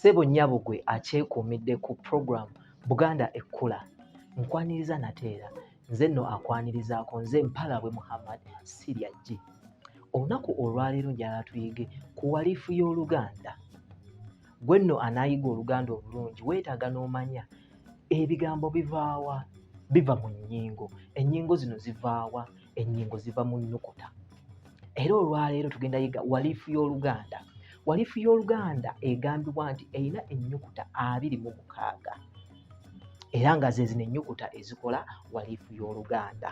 Sebo nyabo gwe akyekuumidde ku program Buganda ekkula nkwaniriza nateera nze nno akwanirizaako nze mpalabwe Muhammad sirya jji olunaku olwaleero njala tuyige ku walifu y'oluganda gwe nno anaayiga oluganda obulungi weetaaga n'omanya ebigambo bivaawa biva mu nnyingo ennyingo zino zivaawa ennyingo ziva mu nnukuta era olwaleero tugenda yiga walifu y'oluganda walifu y'oluganda egambibwa nti erina ennyukuta abiri mu mukaaga era nga zezino ennyukuta ezikola walifu y'oluganda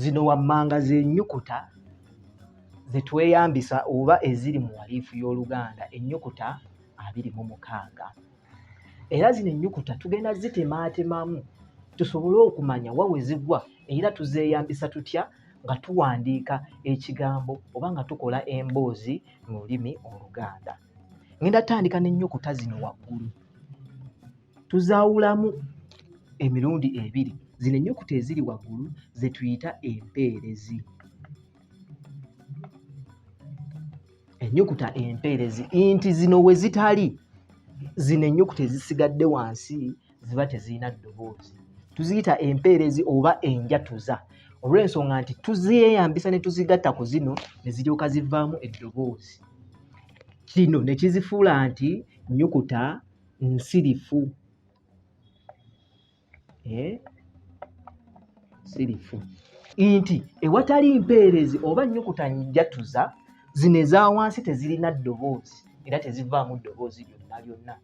zino wammanga z'ennyukuta ze tweyambisa oba eziri mu waliifu y'Oluganda ennyukuta abiri mu mukaaga. era zino ennyukuta tugenda zitemaatemamu tusobole okumanya wa we zigwa era tuzeeyambisa tutya nga tuwandiika ekigambo oba nga tukola emboozi mu lulimi oluganda ngenda tandika n'ennyukuta zino waggulu tuzaawulamu emirundi ebiri zino ennyukuta eziri waggulu ze tuyita empeerezi ennyukuta empeerezi nti zino we zitali zino ennyukuta ezisigadde wansi ziba tezirina ddoboozi tuziyita empeerezi oba enjatuza olw'ensonga nti tuzeyambisa ne tuzigatta ku zino ne ziryoka zivaamu eddoboozi kino ne kizifuula nti nnyukuta nsirifu eh? sirifu nti ewatali mpeerezi oba nnyukuta njatuza zino eza wansi tezirina ddoboozi era tezivaamu ddoboozi lyonna lyonna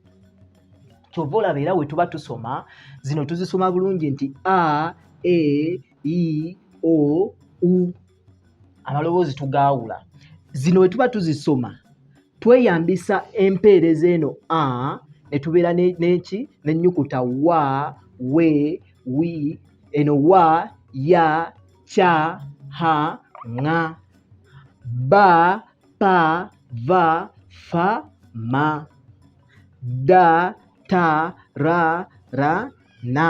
kyova olaba era wetuba tusoma zino tuzisoma bulungi nti a e i o u amaloboozi tugaawula zino bwe tuba tuzisoma tweyambisa empeereza eno a ne tubeera n'eki n'ennyukuta wa we wi eno wa ya kya ha ŋa ba pa va fa ma da ta ra ra na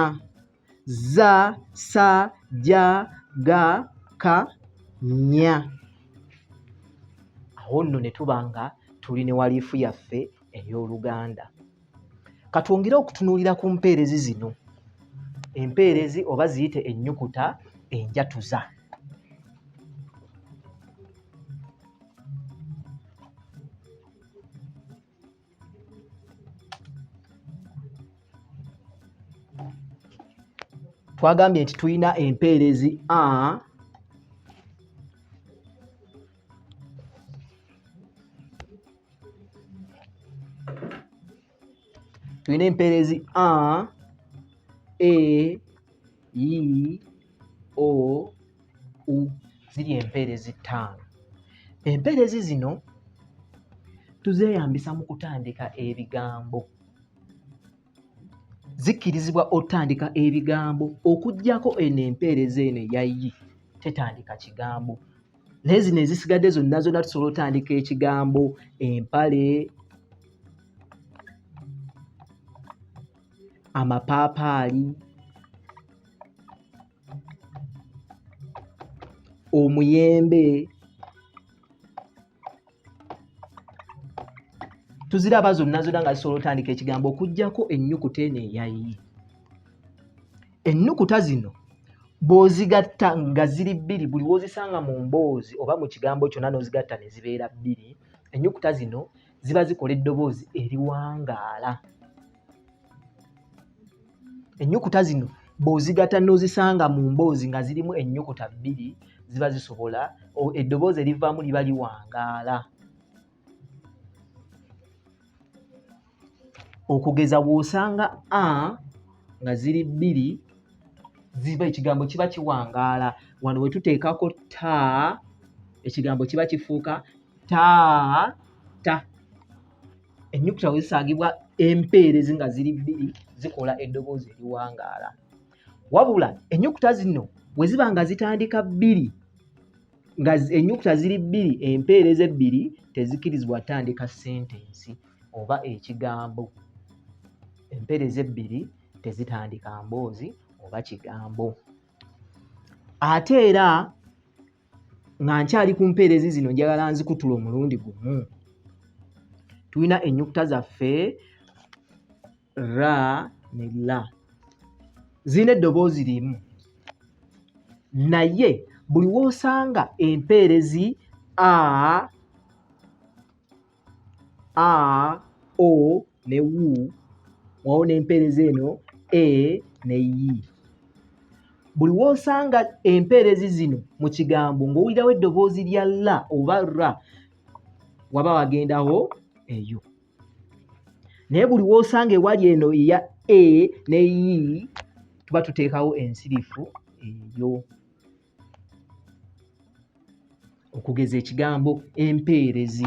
za sa ja ga ka nya awo nno ne tuba nga tuli ne waliifu yaffe ey'oluganda katwongere okutunuulira ku mpeerezi zino empeerezi oba ziyite ennyukuta enjatuza twagambye nti tulina empeerezi a tulina empeerezi a a e i o u ziri empeerezi ttaano empeerezi zino tuzeeyambisa mu kutandika ebigambo zikkirizibwa otandika ebigambo okugyako eno empeereza eno eyayi tetandika kigambo naye zino ezisigadde zonna zonna tusobola otandika ekigambo empale amapaapaali omuyembe tuziraba zonna zonna nga zisobola otandika ekigambo okugyako ennyukuta eno eyayi ennukuta zino bw'ozigatta nga ziri bbiri buli w'ozisanga mu mboozi oba mu kigambo kyonna n'ozigatta ne zibeera bbiri ennyukuta zino ziba zikola eddoboozi eriwangaala ennyukuta zino bw'ozigata n'ozisanga mu mboozi nga zirimu ennyukuta bbiri ziba zisobola eddoboozi erivaamu liba liwangaala okugeza bw'osanga a nga ziri bbiri ziba ekigambo kiba kiwangaala wano we tuteekako ta ekigambo kiba kifuuka ta ta ennyukuta we zisangibwa empeerezi nga ziri bbiri zikola eddoboozi eriwangaala wabula ennyukuta zino we ziba nga zitandika bbiri nga ennyukuta ziri bbiri empeereza ebbiri tezikkirizibwa tandika sentensi oba ekigambo empeereza ebbiri tezitandika mboozi oba kigambo ate era nga nkyali ku mpeerezi zino njagala nzikutula omulundi gumu tulina ennyukuta zaffe ra ne la zirina eddoboozi limu naye buli w'osanga empeerezi a a o ne u wawo n'empeereza eno e ne yi buli w'osanga empeerezi zino mu kigambo ng'owulirawo eddoboozi lya la oba ra waba wagendawo eyo naye buli w'osanga ewali eno eya e ne yi tuba tuteekawo ensirifu eyo okugeza ekigambo empeerezi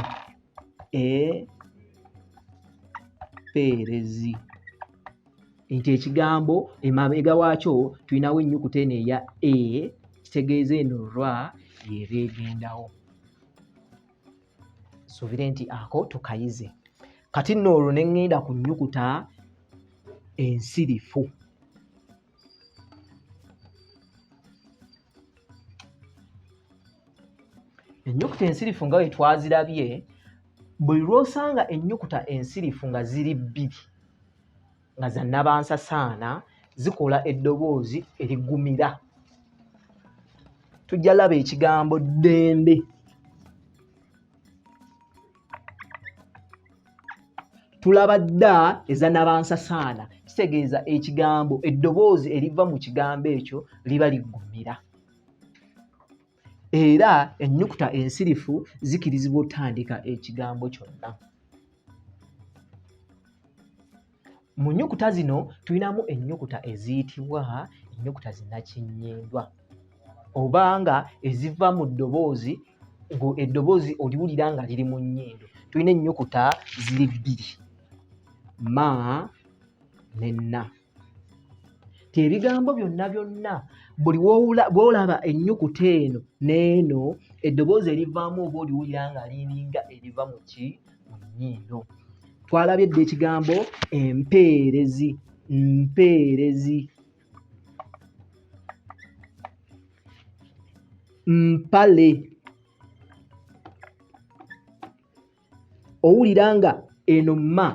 empeerezi nti ekigambo emabega waakyo tulinawo ennyukuta eno eya e kitegeeza eno ra yeeba egendawo suubire nti ako tukayize kati nno olwo ne ŋŋenda ku nnyukuta ensirifu ennyukuta ensirifu nga bwe twazirabye buli lw'osanga ennyukuta ensirifu nga ziri bbiri nga za nabansasaana zikola eddoboozi erigumira tujja laba ekigambo ddembe tulaba dda eza nabansasaana kitegeeza ekigambo eddoboozi eriva mu kigambo ekyo liba liggumira era ennyukuta ensirifu zikirizibwa otandika ekigambo kyonna mu nyukuta zino tulinamu ennyukuta eziyitibwa ennyukuta zinakinyendwa oba nga eziva mu ddoboozi eddoboozi oliwulira nga liri mu nnyindo tulina ennyukuta ziri bbiri ma ne na ti ebigambo byonna byonna buli bwolaba ennyukuta eno n'eno eddoboozi erivaamu oba oliwulira nga liringa eriva mu ki mu nnyindo twalabye dda ekigambo empeerezi mpeerezi mpale owulira nga eno ma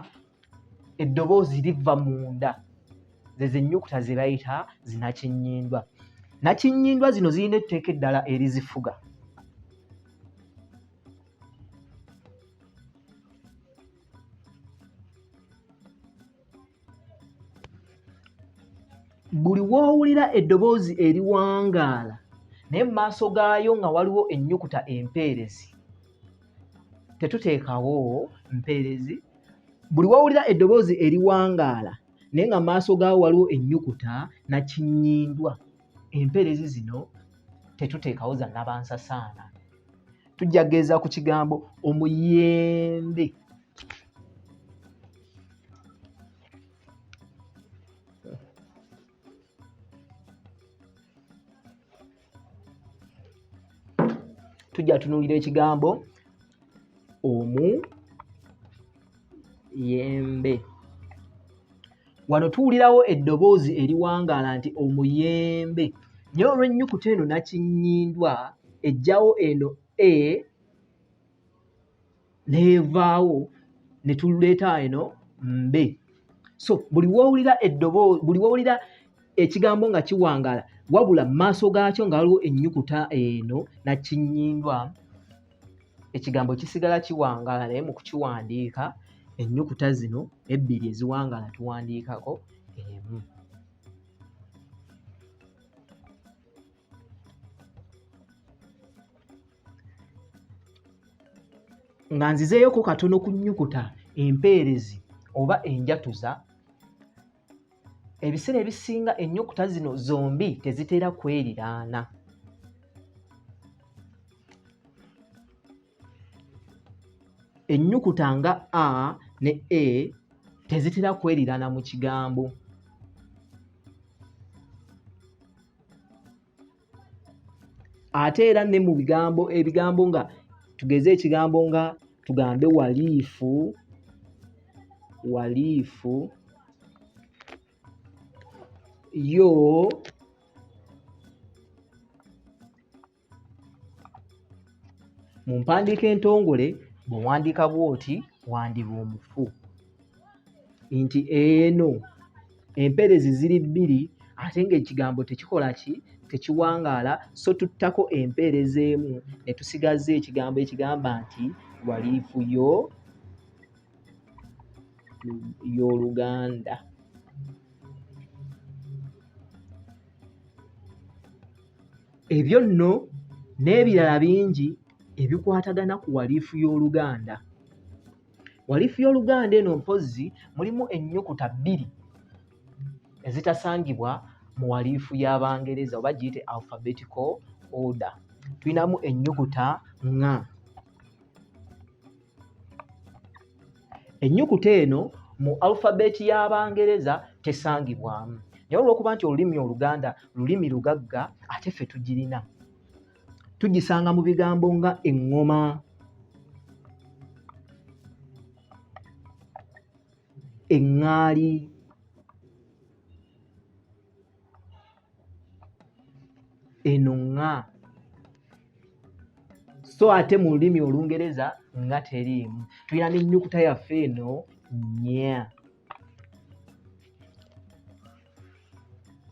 eddoboozi liva munda zezenyukuta zebayita zinakinyindwa nakinyindwa zino zirina etteeka eddala erizifuga buli w'owulira eddoboozi eriwangaala naye mu maaso gaayo nga waliwo ennyukuta empeerezi tetuteekawo mpeerezi buli w'owulira eddoboozi eriwangaala naye nga maaso gaawo waliwo ennyukuta nakinyindwa empeerezi zino tetuteekawo za nabansasaana tujja kugeeza ku kigambo omuyembe tujja tunuulira ekigambo omuyembe wano tuwulirawo eddoboozi eriwangaala nti omuyembe naye olw'ennyukuta eno nakinyindwa ejjawo eno e neevaawo ne tuleeta eno mbe so buli wowulira eddoboozi buli wowulira ekigambo nga kiwangaala wabula mu maaso gaakyo nga waliwo ennyukuta eno nakinyindwa ekigambo kisigala kiwangaala naye mu kukiwandiika ennyukuta zino ebbiri eziwangaala tuwandiikako emu nga nzizeeyoko katono ku nnyukuta empeerezi oba enjatuza ebiseera ebisinga ennyukuta zino zombi tezitera kweriraana ennyukuta nga a ne e tezitera kweriraana mu kigambo ate era ne mu bigambo ebigambo nga tugeze ekigambo nga tugambe waliifu waliifu yo mu mpandiika entongole bwe wandiika bw'oti wandiba omufu nti eno empeerezi ziri bbiri ate ng'ekigambo tekikola ki tekiwangaala so tuttako empeereza emu ne tusigaza ekigambo ekigamba nti waliifu yo y'oluganda ebyo nno n'ebirala bingi ebikwatagana ku waliifu y'oluganda walifu y'oluganda eno mpozzi mulimu ennyukuta bbiri ezitasangibwa mu walifu y'abangereza oba giyite alphabetical order tulinamu ennyukuta nga ennyukuta eno mu alphabeti y'abangereza tesangibwamu naye olw'okuba nti olulimi oluganda lulimi lugagga ate ffe tugirina tugisanga mu bigambo nga eŋŋoma eŋŋaali eno ŋŋa so ate mu lulimi olungereza nga teriimu tulina n'ennyukuta yaffe eno nya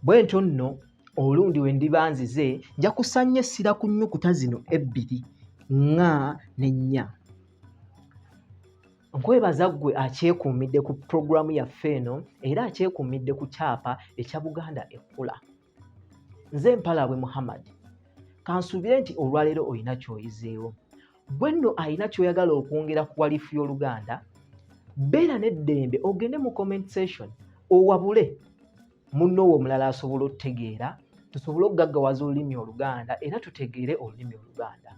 bwentyo nno olundi we ndiba nzize nja kusanya essira ku nnyukuta zino ebbiri nga ne nnya nkwebaza ggwe akyekuumidde ku pulogulaamu yaffe eno era akyekuumidde ku kyapa ekya buganda ekkula nze mpalaabwe muhammad kansuubire nti olwaleero olina kyoyizeewo gwe nno alina kyoyagala okwongera ku walifu y'oluganda beera n'eddembe ogende mu comment session owabule munno wo omulala asobola okutegeera tusobole okugaggawaza olulimi oluganda era tutegeere olulimi oluganda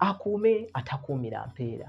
akuume atakuumira mpeera